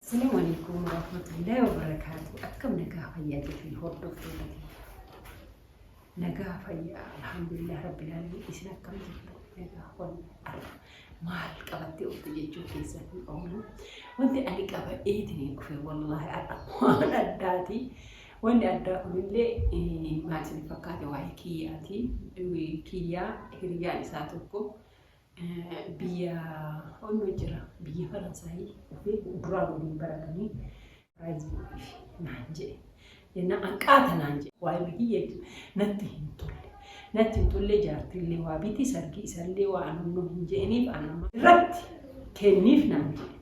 Assalamu alaikum warahmatullahi wabarakatuh. Akkam nagaa fayyaa jirtan hordoftoota kiyya. Nagaa fayyaa alhamdulillah rabbil alamin isin akkam jirtu? Nagaa fayyaa arra maal qabattee ooltu jechuu keessan hin oolu. Wanti ani qaba eetiin kufe wallahi arra waan addaati. Wanni addaa kunillee eh, maal isin fakkaate waa'ee kiyyaati. Eh, Kiyyaa hiriyyaan isaa tokko biyya onno jira biyya faransaayii dhufee duraa waliin baratanii piraayizii godhiif naan jedhe jenna anqaata naan jedhe waa'ee bitii jechu natti hin tolle natti hin tolle jaartillee waa biti sargii isallee waa anumnu hin jedhiniif anuma irratti kenniif naan jedhe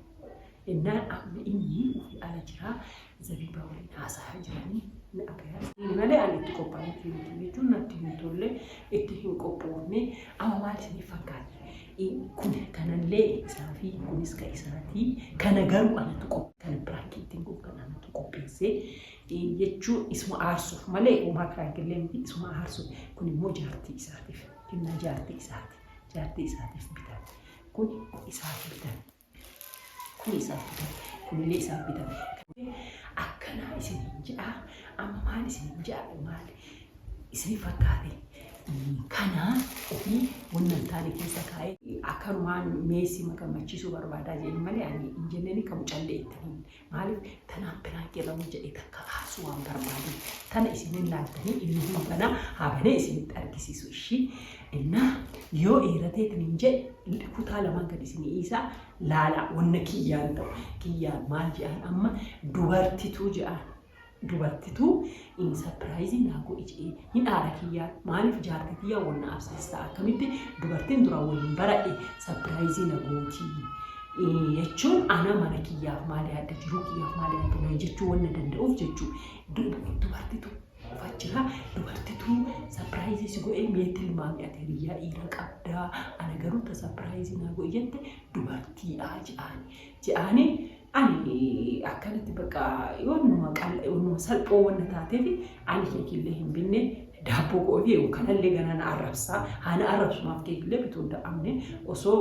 Jennaan amma inni ufi ala jira, Zabiibaa waliin haasa'aa jiranii na argan. Ani malee ani itti qophaa'eefii miti jechuun natti hin tolle, itti hin qophoofne. Amma maal isiniif fakkaata? Kun kanallee isaafi, kunis ka isaati. Kana garuu anatu qophe, kana piraankii ittiin godhu kana anatu qopheesse jechuun isuma aarsuuf malee homaa piraankiillee miti, isuma aarsuuf. Kun immoo jaartii isaatiif, kennaa jaartii isaati. Jaartii isaatiif bitame. Kun isaaf bitame. Kun isaaf bitame, kunillee isaaf bitame. Akkanaa isiniin je'a, amma maal isiniin je'a? Maal isinii fakkaate? Kana ofii wanna hin taane keessa kaa'ee akkanumaan meessi magammachiisuu barbaadaa jeen malee ani hin jenneen kamu callee itti hin Maaliif tanaan piraank jedhamu jedhee takka faarsuu waan barbaadeef tana isin hin laaltanii inni hin banaa haa banee isinitti argisiisu ishii innaa yoo eeratee tiniin jedhe kutaa lamaan gad isin dhiisaa laalaa wanna kiyyaan ta'u kiyyaan maal jedhaan amma dubartituu jedhaan Dubartitu in surprise naa godhi jedhee hin aara kiyyaa maalif jaarti tiyyaa wal na absistaa akkamitti dubartin dura waliin baradhe surprise na gootii jechuun ana mana kiyyaaf maal yaadda jiruu kiyyaaf maal yaadda na jechuu wan na danda'uuf jechuu dubartitu kufa jira dubartitu surprise si godhee mee tilmaami ati hiriyyaa dhiira qabdaa ana garuu ta surprise naa godhi jette dubartiidha je'aani je'aani Ani akkanatti bakka yoonuma qal'a yoonuma salphoo wanna taateef ani keekillee hin binne daabboo koo fi kanallee ganaa na arrabsaa haa na arrabsu maaf keekillee bituu hin dadhabne osoo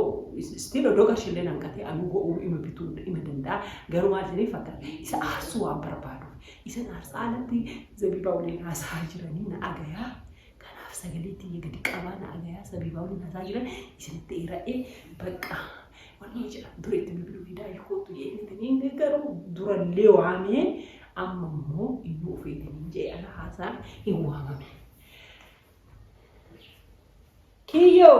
still odoo qarshiillee nan qatee anuu go'uu ima bituu ima danda'a garuu maal isiniif fakkaata isa aarsuu waan barbaaduuf isan aarsaa alatti zabiibaa waliin haasaa jiranii na dhagayaa Kanaaf sagalee tiyya gadi qabaa na agayaa sabiibaa waliin hasaa jiran isinitti eera'ee bakka wanni jedhamu dura itti bilbiluu fidaa ilkootu jeetaniin garuu durallee waamee amma immoo iyyuu ofeetaniin jee ana haasaa hin waamame. Kiyyoo!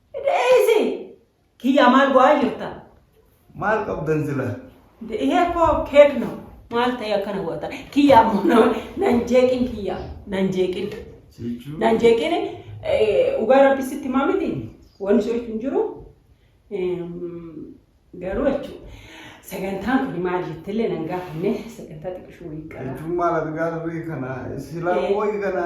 Deeysi! Kiyyaa maal go'aa jirta? Maal qabdan sila? Deeyee koo keekno maal ta'e akkana goota? Kiyyaa ammoo nama nan jeeqin kiyyaa nan jeeqin. Sichuu. Nan jeeqin dhugaa rabbi sitti himaa miti wanni soitu hin jiru garuu jechuudha. Sagantaan kun maal jettillee nan gaafanne sagantaa xiqqishuu wayii qaba. Jechuun maal argaa turre kana sila Eh. qoyi kana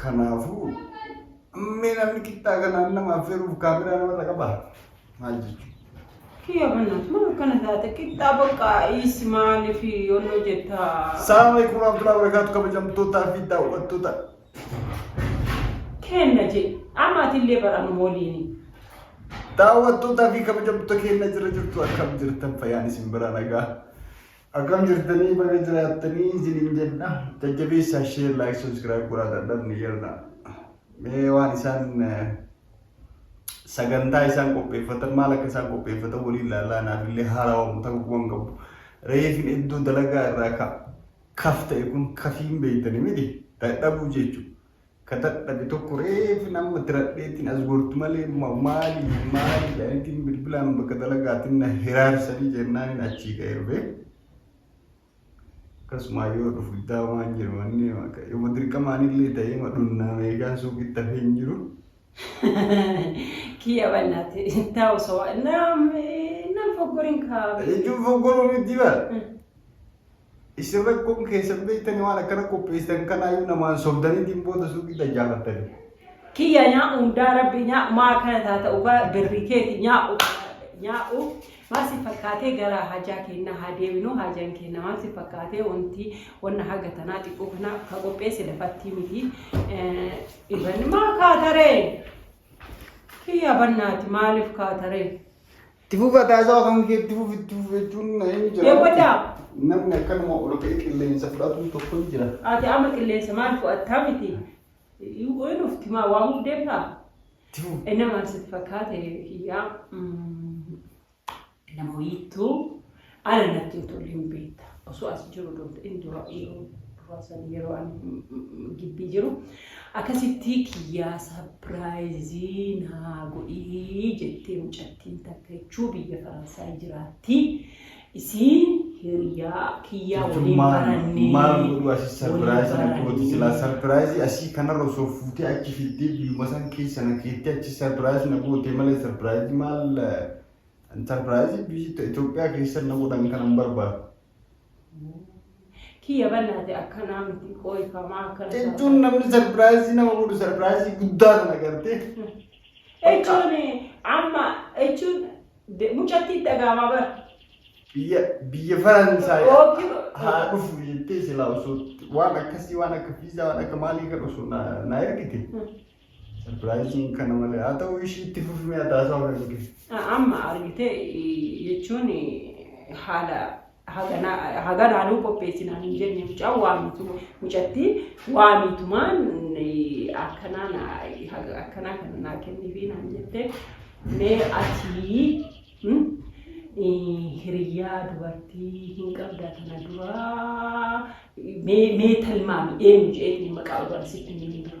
Kanaafuu mee namni qixxaa kanaan nama affeeruuf kaameraa namarra qaba maal jechuudha? Kiyya bannaas maal akkana taate qixxaa bakka is maaliif yoon hojjetta. Salaam alaikum warahmatullahi wabarakatuh kabajamtootaa fi daawwattoota. Kenna jee amaatillee baranuma waliini. Daawwattootaa fi kabajamtoota keenya jira jirtu akkam jirtan fayyaan isin bira nagaa. Akkam jirtanii baga jiraattanii isiniin jenna. Jajjabeessaa share like subscribe godhaa dadhabne jirra. Mee waan isaan eh, sagantaa isaan qopheeffatan maal akka isaan qopheeffatan waliin ilaalaa naaf illee haarawamu ta'uu waan qabu. Reefin iddoo dalagaa irraa ka kaf ta'e kun kafiin beektanii miti dadhabuu jechuudha. ka dadhabe tokko reefi namma tiradheetiin as gortu malee maali maali jedhanitiin bilbilaan bakka dalagaatiin na hiraarsanii jennaaniin achii ka'ee dhufe. Akkasumaa yoo dhufu iddaa waan jiru wanni yoo dirqamaanillee ta'ee ma dhunnaa meeshaan suuqitti hafee hin jiru. Kiyya bannaati ittaa osoo nam nam foggoriin kaa. Jechuun foggoruu miti bara. Isin rakkoon keessan beektanii waan akkana qopheessitan kanaayyuu namaan sobdaniitiin booda suuqii dajjaafattanii. Kiyya nyaa'u hundaa rabbi nyaa'u maa akkana taata dhugaa birri keeti nyaa'u nyaa'u maal si fakkaatee gara hajaa keenna haa deebinu hajaan keenna maal si fakkaatee wanti wanna haga tanaa xiqqoo kana ka qopheesse lafattii miti iban maa kaataree kiyya bannaati maaliif kaataree Itti fufa taasisaa kan kee itti fufi itti fufi jechuun na hin jira. Deemaddaa. Namni akkanuma ol ka'ee qilleensa fudhatu tokko ni jira. Ati amma qilleensa maal fudhattaa miti? Yoo dhufti maa waamuuf deemtaa? Itti fufi. Inni maal sitti fakkaate kiyyaa? Mm, Nama wiittuu. Ana natti hin tolu hin beekta. Osoo as jiru doonta inni dura yeroo duraa san yeroo ani gibbii jiru akkasitti kiyyaa sapiraayizii naa godhii jettee mucattiin takka jechuu biyya Faransaay jiraatti. Isiin hiriyaa kiyyaa waliin Ijummaan barannee maal godhu asi waliin sarpiraayizii na gooti silaa barannee. sarpiraayizii asii kanarra osoo fuutee achi fiddee biyyuma san keessa na keettee achi sarpiraayizii na gootee malee sarpiraayizii maal eh, Intarpiraayizii biyyi ta- Itoophiyaa keessatti na godhan kana hin barbaadu. Kiyya bannaate akkanaa miti qooyfamaa akkana. Jechuun namni sarpiraayizii nama godhu sarpiraayizii guddaa sana gartee Jechuun amma jechuun de- mucatti dhagaamaa bara. biyya biyya Faransaay Ookii- haa dhufu jettee silaa osoo waan akkasii waan akka fiizaa waan akka maalii kan osoo na na ergite Sarpiraayiziin kana malee haa ta'u ishii itti fufimee ataasaa hunda dhigee. Amma argite jechuun haala haganaa nuu qopheessinaan hin jenne mucaan waamitu mucatti waamitumaan akkanaa akkanaa kana naa kennifi naan jette mee atii hiriyyaa dubartii hin qabda kana duraa mee talmaami eenyu jedhee maqaa barsiitti hin dura.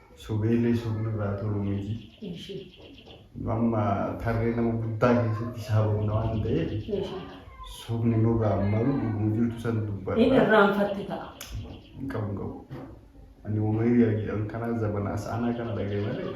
Subeellee soofni irraa toluu miti. Amma tarree nama guddaa keessatti isaa boonna waan ta'eef soofni nurraa malu dhuguma jirtu san Inni dubbadha. irraanfatte ta'a. Hin qabu hin qabu. Ani uumarii jedhan kanaa zabanaa sa'anaa kana dhaga'e malee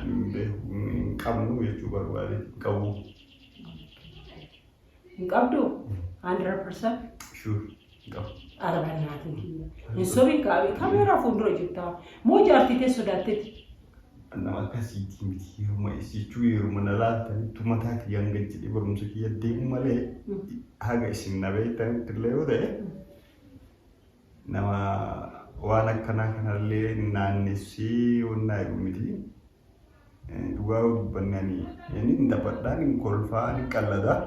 Hin beeku hin qabnu jechuu barbaade hin qabu. Hin qabdu? 100%? Sure hin qabu. Ara bannaatiin kiyya. Hin sobiin kaabii kameeraa fuuldura jirtaa. Moo jaartii tee sodaatteeti? Nama akkasiitii miti yeruma isichuu yeruma na laaltanitti mataa kiyya hanga jedhee barumsa kiyya deemu malee haga isin na beektanitti illee yoo ta'e Nama waan akkanaa kanallee naannessee wannaa jedhu miti. Dhugaa yoo dubbanne ani inni hin taphadhaa, inni kolfaa, inni qalladaa.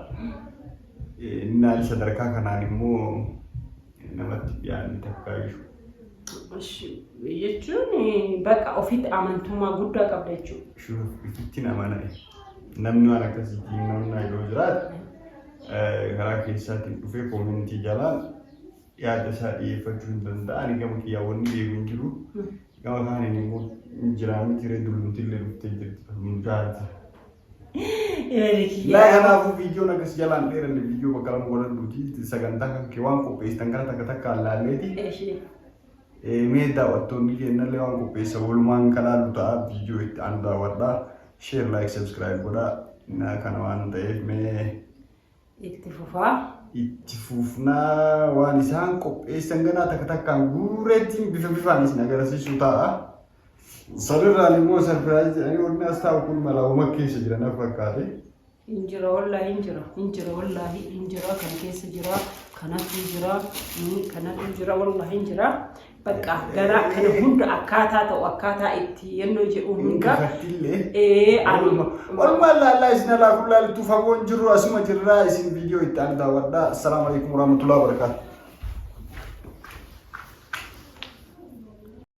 Inni ani sadarkaa kanaan immoo namatti dhiyaanne takkaa jiru. Jechuun bakka ofitti amantummaa guddaa qabda jechuudha. Shuuf ittiin amana. Namni waan akkasiitiin namni yoo jiraate karaa keessaatiin dhufee koomintii jalaan yaada isaa dhiyeeffachuu hin danda'a. Ani gama kiyyaa wanni beeku hin jiru. Gama kaaniin immoo hin jiraa miti ree dullumti illee dhuftee jirti kan nu jaarti. Laa kanaafuu viidiyoon akkas jalaan dheeranne viidiyoo bakka lama godhadhuuti sagantaa kan kee waan qopheessitan kana takka takka allaalleeti. Mee daawwattoonni keenyallee waan qopheessa walumaan kan haallu ta'a viidiyoo itti aanu daawwadhaa. Sheer laayik sabskiraayib godhaa. Kana waan ta'eef mee Itti fufaa. Itti fufnaa waan isaan qopheessan ganaa takka takkaan guureetiin bifa bifaan isin agarsiisuu ta'a. Sanirraan immoo sarpiraayizii ani wanni as taa'u kun malaawuma keessa jira na fakkaate. Injira wallaahi injira injira wallaahi injira kan keessa jira kanatu jira kanatu jira wallaahi injira Bakka garaa kana hunda akkaataa ta'u akkaataa itti yennoo jedhu hunda. Olmaa laallaa isin alaa kun laaltu fagoon jirru asuma jirraa isin viidiyoo itti aanu daawwadhaa. Assalaamu alaikum warahmatullahi wabarakaatu.